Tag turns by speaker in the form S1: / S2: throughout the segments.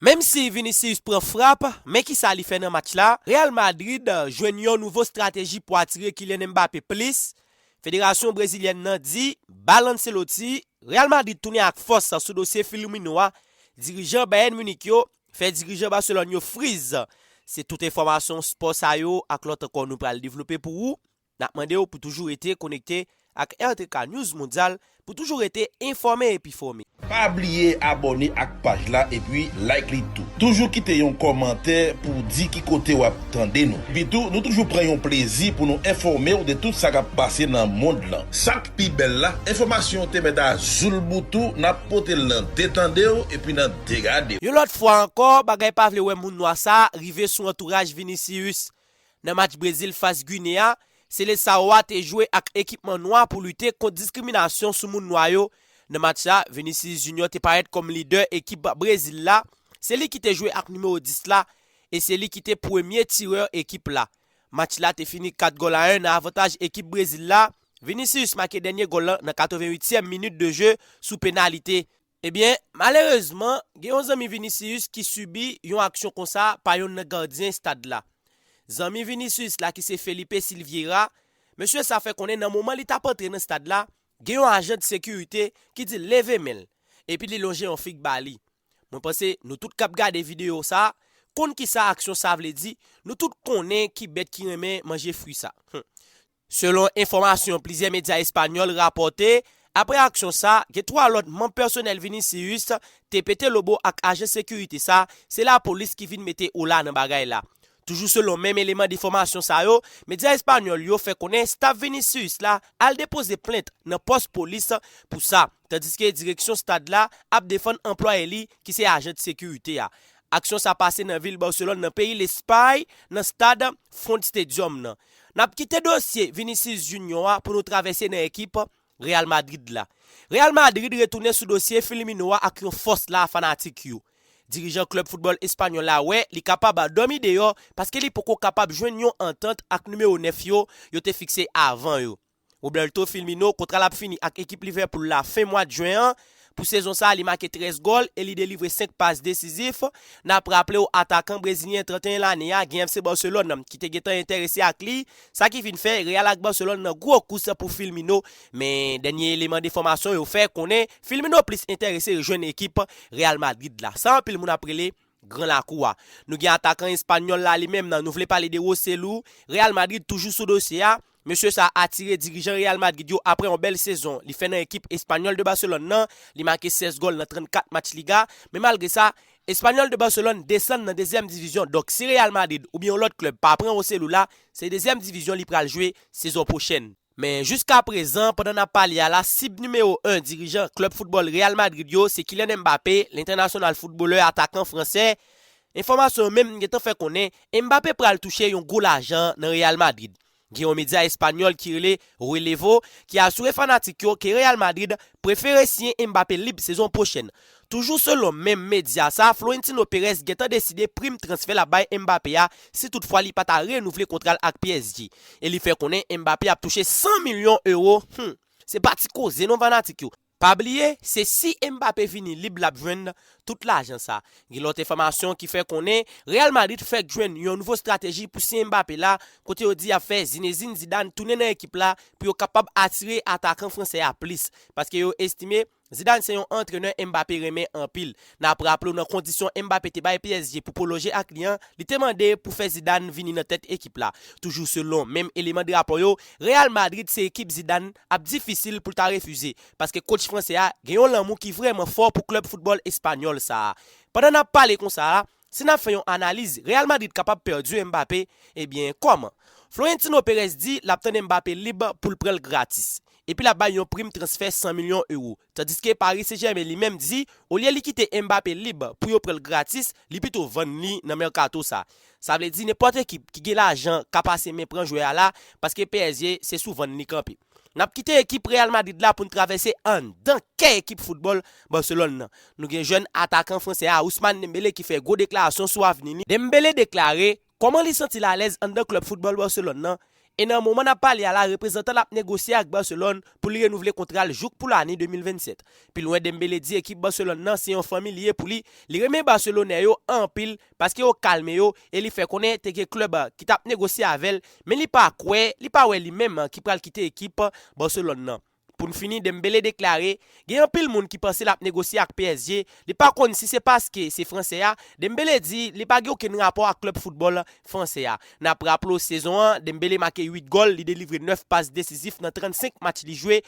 S1: Menm si Vinicius pran frap, men kisa li fè nan match la? Real Madrid jwenn yon nouvo strateji pou atire Kylian Mbappé plis, Federasyon brezilyèn nan di bal Ancelotti, Real Madrid tounen ak fòs sou dosye Filumino a, dirijan Bayern Munich yo fè dirijan Barcelone yo friz. Se tout enfòmasyon spò sa yo ak lòt ankò nou pral devlope pou ou N ap mande w pou toujou rete konekte ak RTK News Mondyal pou toujou rete enfòme epi fòme. Pa bliye
S2: abòne ak paj la epi like li tou. Toujou kite yon kòmantè pou w di ki kote w ap tande nou. Epitou, nou toujou pran yon plezi pou nou enfòme w de tout sa k ap pase nan mond lan. Sa k pi bèl la, enfòmasyon w te mèt a zoulboutou, n ap pote l nan de tande w epi nan de gade w. Yon lòt fwa ankò,
S1: bagay pa vle wè moun nwa sa a rive sou antouraj Vinicius. Nan match Brezil fas Gine a, Seleçao a te jwe ak ekipman nwa pou lite kont diskriminasyon sou moun nwa yo. Nan match la, Vinicius Junior te parèt kòm lidè ekip Brezil la, se li ki te jwe ak nimewo 10 la e se li ki te premye tirè ekip la. Match la te fini 4 gòl a 1 nan avantaj ekip Brezil la, Vinicius make dènye gòl lan nan 88 tièm minit de je sou penalite. Ebyen, malerezman, gen yon zanmi Vinicius ki sibi yon aksyon konsa pa yonn nan gadyen estad la. Zanmi Vinicius la ki se Felipe Silvieira, mesye sa fè konnen nan moman li tap antre nan estad la, gen yon ajan de sekirite ki di l leve men l, epi li lonje yon fig ba li. Mwen panse nou tout kap gade videyo sa konn kisa aksyon sa vle di, nou tout konnen ki bèt ki renmen manje fwi sa. Humm. Selon enfòmasyon plizyè medya espanyòl rapòte, aprè aksyon sa, gen 3 lòt manm pèsonèl Vinicius te pete lobo ak ajan sekirite sa, se lapolis ki vin mete ola nan bagay la. Toujou selon menm eleman defòmasyon sa yo, medya espanyòl yo fè konnen staf Vinicius la al depoze plent nan pòs polis pou sa, tandiske direksyon stad la ap defann anplwaye li ki se ajan de sekirite a. Aksyon sa pase nan vil Barcelone nan peyi Lespay nan stad Front Stadium nan. N ap kite dosye Vinicius Junior a pou nou travèse nan ekip Real Madrid la. Real Madrid retounen sou dosye Firmino a ak yon fòs la a fanatik yo. Dirijan klèb foutbòl espanyòl la wè li kapab dòmi deyò paske li poko kapab jwenn yon antant ak nimewo 9 yo yo te fikse avan yo. Roberto Firmino kontra l ap fini ak ekip Liverpool la fen mwad Jen an. Pou sezon sa a li make 13 gòl e li delivre 5 pas desizif. N ap raple w atakan brezilyen 31 lane a gen FC Barcelone ki te gentan enterese ak li, sa ki vin fè Real ak Barcelone nan gwo kous pou Firmino. Men dènye eleman enfòmasyon yo fè konnen Firmino plis enterese rejwenn ekip Real Madrid la, sa anpil moun ap rele. Gran lakou a. Nou gen atakan espanyòl la li menm nan, nou vle pale de Roselu, Real Madrid toujou sou dosye a, mesye sa atire dirijan Real Madrid yo aprè yon bèl sezon li fè nan ekip Espanyòl de Barcelone nan, li make 16 gòl nan 34 match Liga, men malgre sa, Espanyòl de Barcelone desann nan dezyèm divizyon, donk si Real Madrid oubyen yon lòt klèb pa pran Roselu la, se dezyèm divizyon li pral jwe sezon pwochèn. Men jiska prezan pandan nap pale a la sib nimewo 1 dirijan klub football Real Madrid yo se Kylian Mbappé, lentènasyonal footballè atakan fransè. Enfòmasyon yo menm gentan fè konnen Mbappé pral touche yon gwo lajan nan Real Madrid. Gen yon medya espanyòl ki rele Relevo ki asire fanatik yo ke Real Madrid prefere siyen Mbappé lib sezon pwochèn. Toujou selon menm medya sa, Florentino Perez gentan deside prim transfè l ap bay Mbappé a si tout fwa li pa ta renouvle kontra l ak psg. E li fè konnen Mbappé ap touche 100 milyon ewo, humm! Se pa ti koze non fanatik yo. Pa bliye, se si Mbappé vini lib l ap jwenn tout lajan sa. Gen lòt enfòmasyon ki fè konnen Real Madrid fèk jwenn yon nouvo strateji pou siyen Mbappé la, kote yo di y ap fè Zinedine Zidane tounen nan ekip la pou yo kapab atire atakan fransè a plis, paske yo estime Zidane se yon antrenè Mbappé renmen anpil. N ap raple w nan kondisyon Mbappé te bay psg pou pwolonje ak li an, li te mande pou fè Zidane vini nan tèt ekip la. Toujou selon menm eleman de rapò yo, Real Madrid se ekip Zidane ap difisil pou l ta refize, paske kotch fransè a gen yon lanmou ki vrèman fò pou klèb foutbòl espanyòl sa a. Pandan n ap pale konsa a, Si nap fè yon analiz, Real Madrid kapab pèdi Mbappé, ebyen kòman? Florentino Perez di lap tande Mbappé lib poul pranl gratis, epi lap bay yon prim transfè 100 milyon euro, tandiske Paris Saint Germain li menm di olye li kite Mbappé lib pou yo pranl gratis, li pito vann li nan merkato sa. Sa vle di nenpòt ekip ki gen lajan ka pase men pran jwè a la, paske psg se sou vann li kanpe. N ap kite ekip Real Madrid la pou n travèse anndan kè ekip foutbòl Barcelone nan. Nou gen jèn atakan fransè a Ousmane Dembélé ki fè gwo deklarasyon sou avni li. Dembélé deklare kòman li santi l alèz anndan klèb foutbòl Barcelone nan e nan moman n ap pale a la reprezantan l ap negosye ak Barcelone pou li renouvle kontra l jouk pou lane 2027. Pi lwen Dembélé di ekip Barcelone nan se yon fanmi li ye pou li, li renmen Barcelonè yo anpil paske yo kalme yo e li fè konnen te gen klèb ki t ap negosye avè l men li pa kwè li pa wè li menm ki pral kite ekip Barcelone nan. Pou n fini Dembele deklare gen anpil moun ki panse l ap negosye ak psg li pa konn si se paske se fransè a Dembele di li pa gen okenn rapò ak klèb foutbòl fransè a. N ap raple w sezon an Dembele make 8 gòl li delivre 9 pas desizif nan 35 match li jwe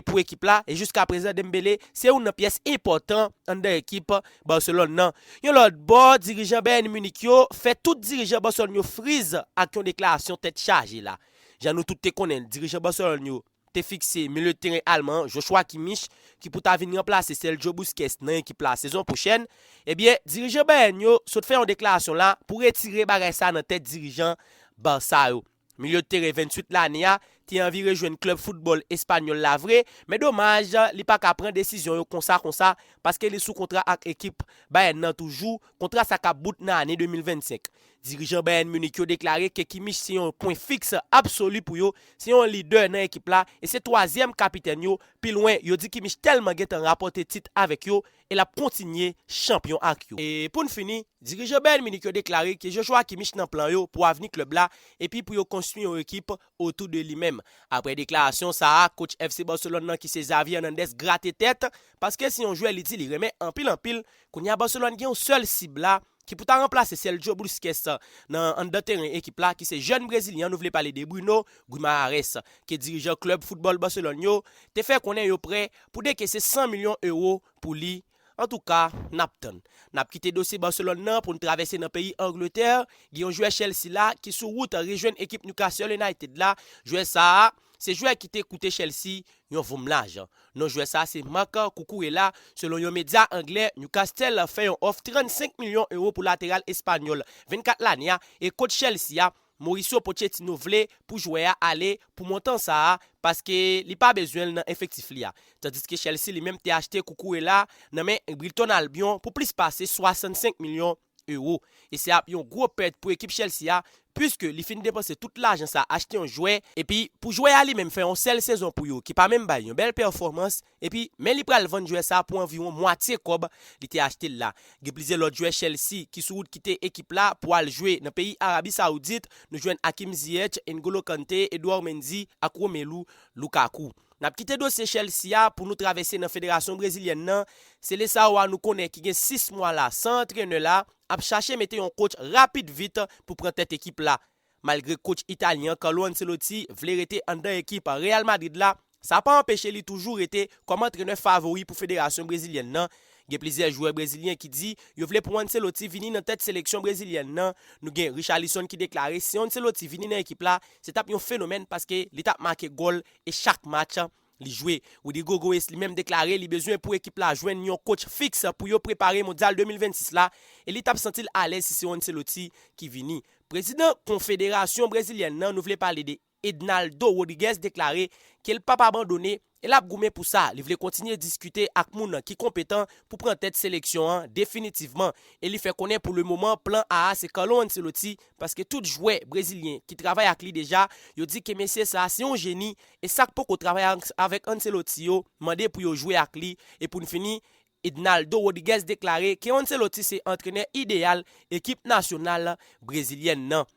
S1: pou ekip la e jiskaprezan Dembele se youn nan pyès enpòtan anndan ekip Barcelone nan. Yon lòt bò, dirijan Bayern Munich yo fè tout dirijan Barcelone yo friz ak yon deklarasyon tèt chaje la. Jan nou tout te konnen l, dirijan Barcelone yo te fikse milye teren alman an, Joshua Kimmich, ki pou ta vin ranplase Sergio Busquets nan ekip la sezon pwochèn. Ebyen, dirijan Bayern yo sot fè yon deklarasyon la pou retire bagay sa nan tèt dirijan Barça yo. Milyo tere 28 lane a te anvi rejwenn klèb foutbòl espanyòl la vre, men domaj li pa ka pran desizyon yo konsa konsa paske li sou kontra ak ekip Bayern nan toujou, kontra sa kap bout nan ane 2025. Dirijan Bayern Munich yo deklare ke Kimmich se yon pwen fiks absoli pou yo, se yon lidè nan ekip la e se twazyèm kapitèn yo, pi lwen yo di Kimmich tèlman gentan rapòte tit avèk yo, e l ap kontinye chanpyon ak yo. E pou n fini, dirijan Bayern Munich yo deklare ke Joshua Kimmich nan plan yo pou avni klèb la epi pou yo konstwi yon ekip otou de li menm. Aprè deklarasyon sa a, coach FC Barcelone nan ki se Xavi Hernandez grate tèt, paske se yon jwè li di li renmen anpil anpil, kounye a Barcelone gen yon sèl sib la, ki pou ta ranplase Sergio Busquets nan anndan teren ekip la ki se jèn brezilyen an nou vle pale de Bruno Guimaraes ke dirijan klub football Barcelone yo te fè konnen yo prè pou dekese 100 milyon euro pou li antouka nap tann nap kite dosye Barcelone nan poun travèse nan peyi Angleterre gen yon jwè Chelsea la ki sou wout rejwenn ekip Newcastle United la jwè sa a Se jwè ki te koute Chelsea yon voum lajan. Non jwè sa se Marc Cucurella, selon yon medya anglè, Newcastle fè yon òf 35 milyon ewo pou lateral espanyòl 24 lane a e kotch Chelsea a, Mauricio Pochettino vle pou jwè a ale pou montan sa a paske li pa bezwen l nan efektif li a. Tandiske Chelsea li menm te achte Cucurella nan men Brighton Albion pou plis pase 65 milyon. Euro, e se ap yon gwo pèt pou ekip Chelsea a puiske li fin depanse tout lajan sa achte yon jwè epi pou jwè a li menm fè yon sèl sezon pou yo ki pa menm bay yon bèl pèfòmans epi men li pral vann jwè sa pou anviwon mwatye kòb li te achte l la. Gen plizyè lòt jwè Chelsea ki sou wout kite ekip la pou al jwe nan peyi Arabi Saoudit, nou jwenn Hakim Ziyech, N'Golo Kante, Edouard Mendy ak Romelu Lukaku. N ap kite dosye Chelsea a pou nou travèse nan federasyon brezilyèn nan, Seleçao a nou konnen ki gen 6 mwa la san antrenè la, ap chache mete yon kotch rapid vit pou pran tèt ekip la. Malgre kotch italyen an Carlo Ancelotti vle rete anndan ekip Real Madrid la, sa pa anpeche li toujou rete kòm antrenè favori pou federasyon brezilyèn nan, Gen plizyè jwè brezilyen ki di yo vle pou Ancelotti vini nan tèt seleksyon brezilyèn nan. Nou gen Richarlison ki deklare si Ancelotti vini nan ekip la, se t ap yon fenomèn paske li t ap make gòl e chak match li jwe. Rodrygo Goes li menm deklare li bezwen pou ekip la jwenn yon kotch fiks pou yo prepare Mondyal 2026 la e li t ap santi l alèz si se Ancelotti ki vini. Prezidan konfederasyon brezilyèn nan nou vle pale de. Ednaldo Rodriguez deklare ke l pap abandone e lap goumen pou sa, li vle kontinye diskite ak moun ki konpetan pou pran tèt seleksyon an definitivman e li fè konnen pou le moman plan A a se Carlo Ancelotti paske tout jwè brezilyen ki travay ak li deja yo di ke mesye sa a se yon jeni e sak poko travay avèk Ancelotti yo mande pou yo jwe ak li e pou n fini Ednaldo Rodriguez deklare ke Ancelotti se antrenè ideyal ekip nasyonal brezilyèn nan.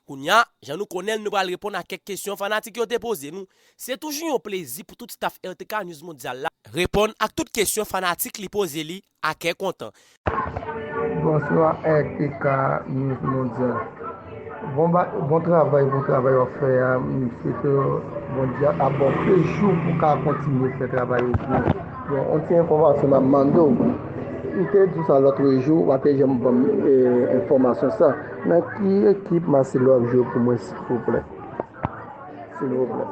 S1: Kounya, jan nou konnen l nou pral reponn a kèk kesyon fanatik yo te poze nou. Se toujou yon plezi pou tout staf RTK News Mondyal la reponn ak tout kesyon fanatik li poze li a kè kontan.
S3: Bonswa RTK News Mondyal. Bon travay bon travay wap fè a m swete Bondye ap baw plis jou pou ka kontinye fè travay ou byen. Bon yon ti enfòmasyon map mande w. Ou te di w sa lòtrejou, ou pa te janm banm enfòmasyon sa. Nan ki ekip Marcelo ap jwe pou mwen silvouplè silvouplè.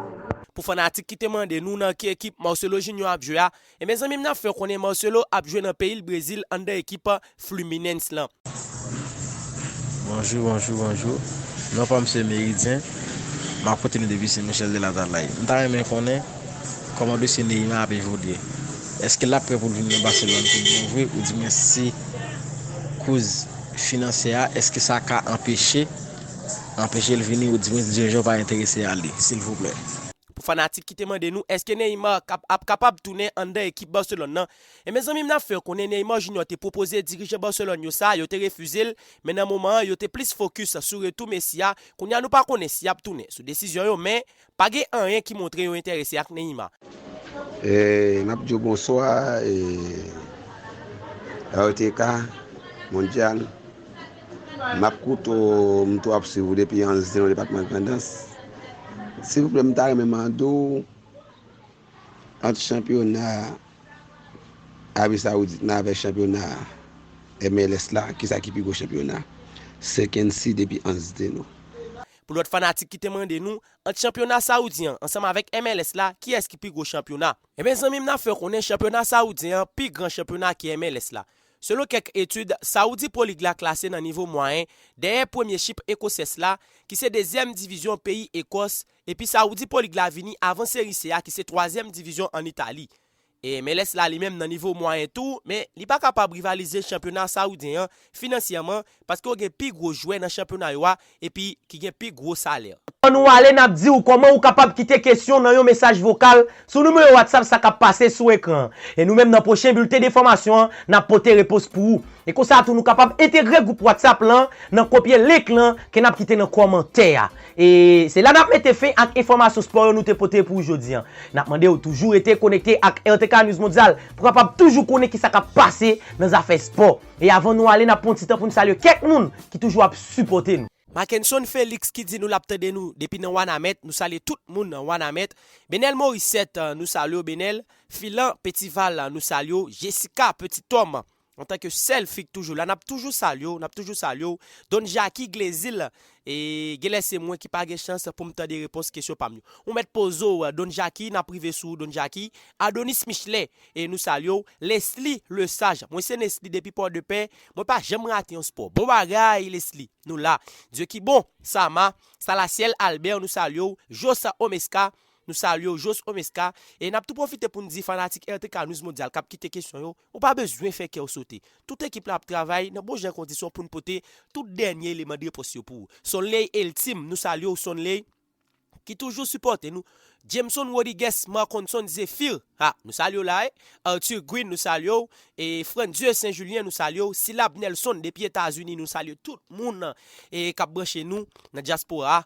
S3: Pou fanatik
S1: ki te mande nou nan ki ekip Marcelo Junior ap jwe a, e men zanmim nap fè konnen Marcelo ap jwe nan peyil Brezil anndan ekip Fluminense lan. Bonjou
S4: bonjou bonjou non pam se meridyen map koute nou depi sen michel de latalay mta renmen konnen kòman dosye neyma ap evolye eske lap prè poul vin nan baselòn tout bon vre ou di mwen si kouz Finansye a eske sa ka anpeche anpeche l vini ou diwens dirijan yo pa enterese a li silvouplè. Pou fanatik ki
S1: te mande nou eske Neymar kap ap kapab tounen anndan ekip Barcelone nan e mezanmi m ap fè yo konnen Neymar Junior te pwopoze dirijan Barcelone yo sa yo te refize l men nan moman an yo te plis fokis sou retou Messi a kounye a nou pa konnen si yap tounen sou desizyon yo men Pa gen anyen ki montre yo enterese ak Neymar.
S5: N ap di w bonswa e RTK Mondyal. M ap koute w, m tou ap swiv ou depi Anzin nan depatman Grandans. Silvouplè m ta renmen mande w ant chanpyona Arabi Sawoudit nan avèk chanpyona MLS la kisa ki pi gwo chanpyona? Sekensi depi Anzdeno. Pou lòt
S1: fanatik ki te mande nou, ant chanpyona sawoudyen an ansanm avèk MLS la kiyès ki pi gwo chanpyona? Enben zanmi m n ap fè w konnen chanpyona sawoudyen an pi gran chanpyona ke MLS la. Selon kèk etid, Saudi Pro League la klase nan nivo mwayen, dèyè premye chip Ekoses la, ki se dezyèm divizyon peyi Ekòs, epi Saudi Pro League la vini avan Serie C a ki se twazyèm divizyon an Itali. MLS la li menm nan nivo mwayen tou, men li pa kapab rivalize chanpyona sawoudyen an finansyèman paske yo gen pi gwo jwè nan chanpyona yo a epi ki gen pi gwo salè. Avan nou ale nap
S6: diw kòman ou kapab kite kesyon nan yon mesaj vokal sou nimewo WhatsApp sa kap pase sou ekran an. E nou menm nan pwochen bilten denfòmasyon an nap pote repons pou ou. E konsa tou nou kapab entegre gwoup WhatsApp lan nan kopye link lan ke nap kite nan kòmantè a. E se la nap mete fen ak enfòmasyon spò yo nou te pote pou ou jodi an. Nap mande ou toujou rete konekte ak RTK News Mondyal pou kapab toujou konnen kisa kap pase nan zafè spò. E avan nou ale nap pran ti tan poun salye kèk moun ki toujou ap sipòte nou. Mackenson Felix
S1: ki di nou lap tande nou depi nan Wanament, nou salye tout moun nan Wanament. Benel Morissette, nou salye w Benel. Philan Petival, nou salye w. Jessica Petit Homme, Antan ke sèl fi k toujou la nap toujou salye w nap toujou salye w Don Jacky Glezil e genlè se mwen ki pa gen chans poum tande repons kesyon pam yo ou mèt poze w Don Jacky nap rive sou ou Don Jacky Adonis Michelet e nou salye w Lesly Lesage mwen se Nesly depi Pòdepè mwen pa janm rate yon spò bon bagay Lesly nou la Dieu ki bon Sama Salasyèl Albert nou salye w Jos Omesca nou salye w Jos Omesca e nap tou pwofite poun di fanatik RTK News Mondial kap kite kesyon yo Ou pa bezwen fè kè w sote. Tout ekip la ap travay nan bon jan kondisyon pou n pote tout dènye eleman de repons yo pou ou. Sonley Elthime, Nou salye w Sonley ki toujou sipòte nou. Jameson Rodigues, Marconson Zephyr, Ha! Nou salye w la e. Arthur Green, Nou salye w. E Frandieu Saint Julien, Nou salye w. Syllab Nelson depi Etazini, Nou salye tout moun e k ap branche nou nan dyaspora a.